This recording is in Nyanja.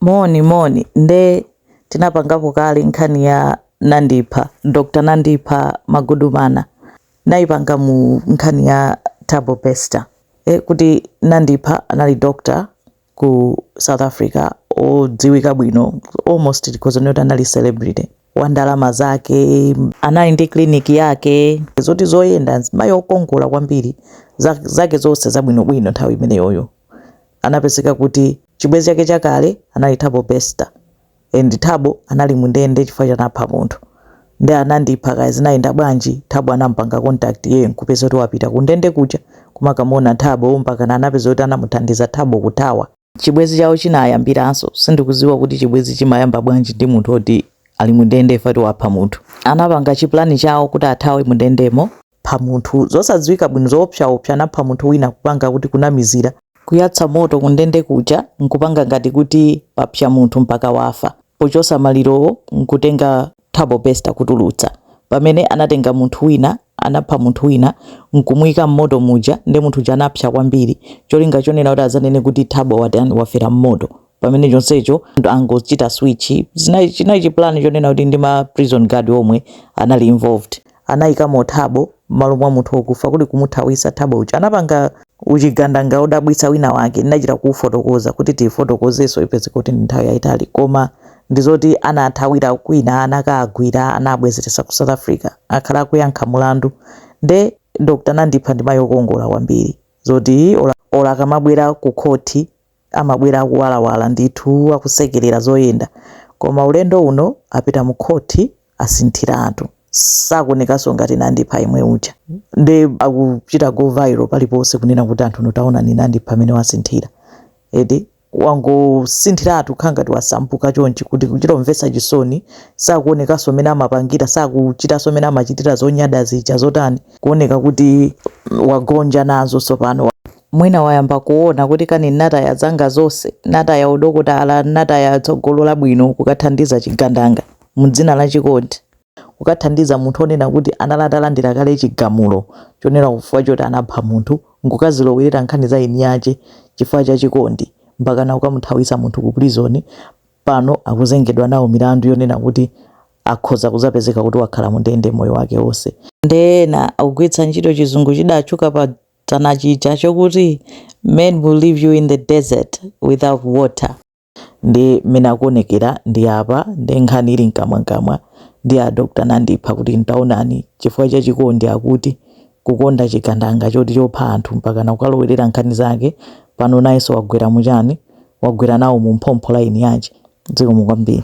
Moni moni nde tinapangapo kale nkhani ya nandipha Dr nandipha magudumana ndinaipanga mu nkhani ya thabo bester e kuti nandipha anali dokotala ku south africa odziwika bwino almost tikhoza kunena kuti anali celebrity wa ndalama zake anali ndi clinic yake zoti zoyenda mzimayi okongola kwambiri zake zonse zabwinobwino nthawi imeneyoyo anapezeka kuti chibwezi chake chakale anali thabo bester and thabo anali mundende chifukwa choti anapha munthu nde nandipha kaya zinayenda bwanji thabo anampanga contact yeye nkupezeka kuti wapita kundende kuja kumakamuona thabo mpakana anapezeka kuti anamuthandiza thabo kuthawa chibwezi chawo chinayambiranso sindikuziwa kuti chibwezi chimayamba bwanji ndi munthu oti ali mundende if at all wapha munthu anapanga chiplani chawo kuti athawe mundendemo pha munthu zosadziwika bwino zoopsaopsa anapha munthu wina kupanga kuti kunamizira kuyatsa moto kundende kuja nkupanga ngati kuti papsa munthu mpaka wafa pochosa malirowo nkutenga thabo bester kutulutsa pamene anatenga munthu wina anapha munthu wina nkumuika mmoto muja nde munthu uja anapsa kwambiri cholinga chonena kuti azanene kuti thabo watani wafera mmoto pamene chonsecho angochita switch zinali chinali chipulani chonena kuti ndi ma prison guard omwe anali involved anayikamo thabo m'malo mwa munthu wokufa kuti kumuthawisa thabo uja anapanga uchigandanga odabwitsa wina wake ndinachita kuufotokoza kuti tifotokozeso ife zoti ndi nthawi yayitali koma ndizoti anathawira kwina anakaagwira anabwezeretsedwa ku south africa akhala akuyankha mulandu nde dr nandipha ndi mayi okongola kwambiri zoti ola, ola akamabwera ku khoti amabwera akuwalawala ndithu akusekerera zoyenda koma ulendo uno apita mu court asinthiratu sakuonekanso ngati nandipha yemwe uja nde akuchita go viral paliponse kunena kuti anthu inu taonani nandipha mmene wasinthira eti wangosinthiratu kukhala ngati wasasuka chonchi kuti kuchita kumvetsa chisoni sakuonekanso mmene amapangira sakuchitanso mmene amachitira zonyada zija zotani kuoneka kuti wagonja nazo tsopano Mwina wayamba kuona kuti kani n'nataya zanga zonse, n'nataya udokotala, n'nataya tsogolo labwino kukathandiza chigandanga m'dzina la chikondi, kukathandiza munthu wonena kuti anali atalandira kale chigamulo chonena chifukwa choti anapha munthu, n'kukazilowerera nkhani za eni ache chifukwa cha chikondi, mpakana kukamuthawitsa munthu ku prizoni, pano akuzengedwa nawo milandu yonena kuti akhoza kuzapezeka kuti wakhala mundende moyo wake wonse. Ndiye ena akugwiritsa ntchito chizungu chidatchuka pa town chija chokuti men will leave you in the desert without water ndi mmene akuonekera ndi apa ndi nkhani ili mkamwamkamwa ndi a dr nandipha kuti taonani chifukwa cha chikondi akuti kukonda chigandanga choti chopha anthu mpakana kukalowerera nkhani zake pano nayenso wagwera muchani wagwera nawo mu phompho la eni ache zikomo kwambiri